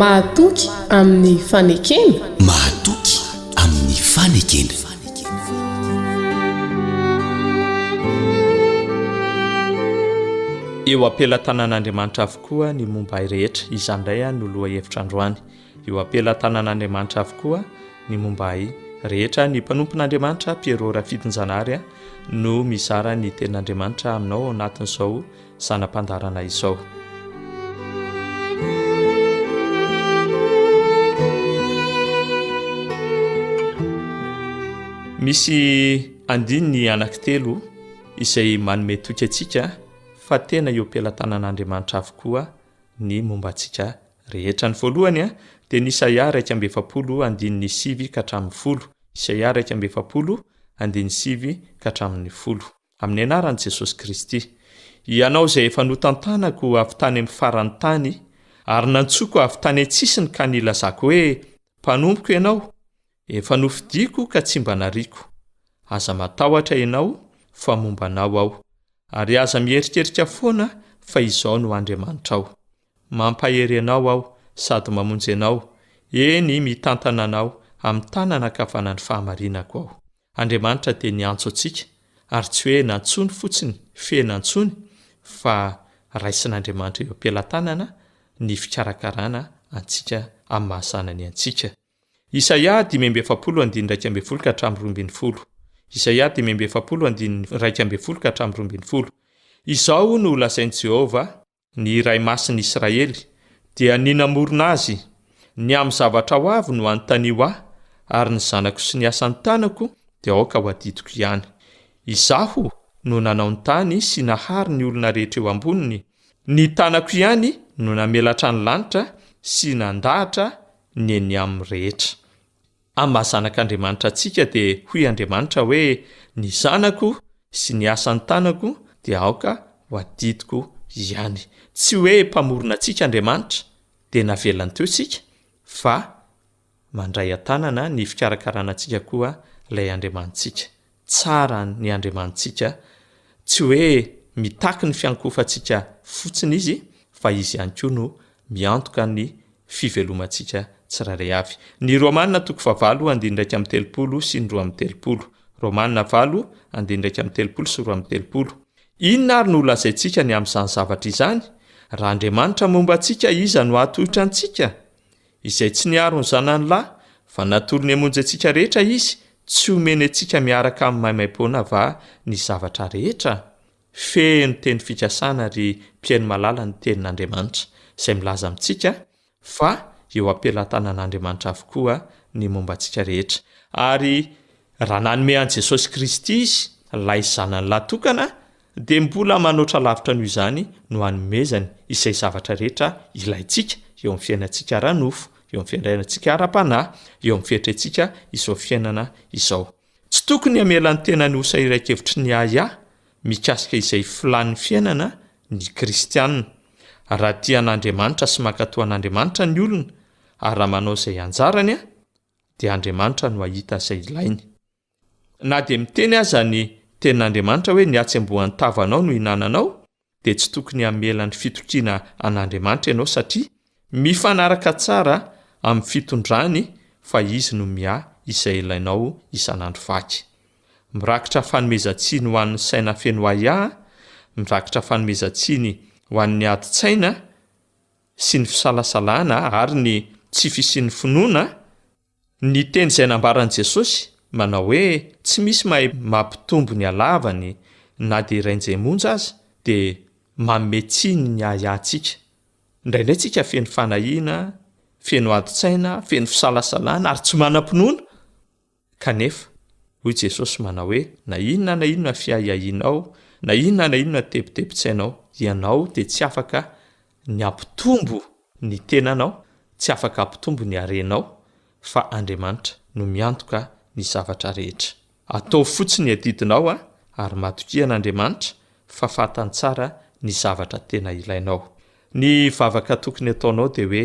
Mahatoky amin'ny fanekena? Mahatoky amin'ny fanekena. Eo am-pelatanan'Andriamanitra avokoa ny momba ahy rehetra, izany indray no lohahevitra androany. Eo am-pelatanan'Andriamanitra avokoa ny momba ahy rehetra, ny mpanompon'Andriamanitra Pierrot Rafitinjanahary no mizara ny tenin'Andriamanitra aminao ao anatin'izao zana-pandaharana izao. Misy andininy anankitelo izay manome toky antsika fa tena eo am-pelatanan'Andriamanitra avokoa ny momba antsika Rehetra ny voalohany dia ny Isaia iraika amby efapolo andininy sivy ka hatramin'ny folo, Isaia iraika amby efapolo andininy sivy ka hatramin'ny folo. Amin'ny anaran'i Jesosy Kristy, Hianao izay efa notantanako avy tany amin'ny faran'ny tany ary nantsoiko avy tany an-tsisiny ka nilazako hoe, Mpanompoko Ianao, Efa nofidiako ka tsy mba nariako. Aza matahotra ianao fa momba anao aho. Ary aza miherikerika foana fa izao no Andriamanitrao. Mampahery anao aho sady mamonjy anao, eny mitantana anao amin'ny tanana ankavanan'ny fahamarinako aho. Andriamanitra dia niantso antsika, ary tsy hoe nantsoiny fotsiny, fehiny antsoiny, fa raisin'Andriamanitra eo am-pelatanana ny fikarakarana antsika amin'ny maha zanany antsika. Isaia dimy amby efapolo andininy iraika ambin'ny folo ka hatramin'ny roa ambin'ny folo Isaia dimy amby efapolo andininy iraika ambin'ny folo ka hatramin'ny roa ambin'ny folo Izao no holazain'i Jehovah, ny Iray Masin'i Israely, dia ny namorona azy, Ny amin'ny zavatra ho avy no anontanio ahy, ary ny zanako sy ny asan'ny tanako dia aoka ho adidiko ihany. Izaho no nanao ny tany sy nahary ny olona rehetra eo amboniny, ny tanako ihany no namelatra ny lanitra sy nandahatra ny eny aminy rehetra. Amin'ny maha zanak'Andriamanitra antsika dia hoy Andriamanitra hoe, Ny zanako sy ny asan'ny tanako dia aoka ho adidiko ihany. Tsy hoe mpamorona antsika Andriamanitra dia navelany teo isika fa mandray an-tanana ny fikarakarana antsika koa ilay Andriamanitsika. Tsara ny Andriamanitsika, tsy hoe mitaky ny fiankohofantsika fotsiny Izy, fa Izy ihany koa no miantoka ny fivelomantsika tsirairay avy. Ny Romana toko fahavalo andinin'ny iraika amby telopolo sy ny roa amby telopolo. Romana valo andinin'ny iraika amby telopolo sy roa amby telopolo. Inona ary no holazaintsika ny amin'izany zavatra izany? Raha Andriamanitra momba antsika, iza no hahatohitra antsika? Izay tsy niaro ny zanany lahy va natolony hamonjy antsika rehetra Izy tsy homeny antsika miaraka amin'ny maimaim-poana va ny zavatra rehetra? Feno teny fikasana ry mpihaino malala ny tenin'Andriamanitra izay milaza amintsika fa eo am-pelatanan'Andriamanitra avokoa ny momba antsika rehetra ary raha nanome an'i Jesosy Kristy Izy ilay zanany lahy tokana dia mbola manoatra lavitra noho izany no hanomezany izay zavatra rehetra ilaintsika eo amin'ny fiainantsika ara-nofo, eo amin'ny fiandraiantsika ara-panahy, eo amin'ny fietrentsika izao fiainana izao. Tsy tokony hamela ny tenany ho sahirankevitry ny ahiahy mikasika izay filàn'ny fiainana ny kristiana. Raha tia an'Andriamanitra sy mankatò an'Andriamanitra ny olona, ary raha manao izay anjarany, dia Andriamanitra no hahita izay ilainy. Na dia miteny aza ny Tenin'Andriamanitra hoe ny hatsembohan'ny tavanao no ihinananao, dia tsy tokony hamela ny fitokiana an'Andriamanitra ianao satria mifanaraka tsara amin'ny fitondrany fa Izy no miahy izay ilainao isan'andro vaky. Mirakitra fanomezan-tsiny ho an'ny saina feno ahiahy, mirakitra fanomezan-tsiny ho an'ny adin-tsaina sy ny fisalasalana ary ny tsy fisian'ny finoana Ny teny izay nambaran'i Jesosy, manao hoe tsy misy mahay mampitombo ny halavany na dia iray njay monja aza, dia manome tsiny ny ahiahintsika. Indraindray isika feno fanahiana, feno adin-tsaina, feno fisalasalana, ary tsy manam-pinoana. Kanefa, hoy Jesosy, manao hoe, Na inona na inona fiahiahianao, na inona na inona tebitebin-tsainao, ianao dia tsy afaka ny hampitombo ny tenanao, tsy afaka hampitombo ny harenao fa Andriamanitra no miantoka ny zavatra rehetra. Ataovy fotsiny ny adidinao ary matokia an'Andriamanitra fa fantany tsara ny zavatra tena ilainao. Ny vavaka tokony ataonao dia hoe,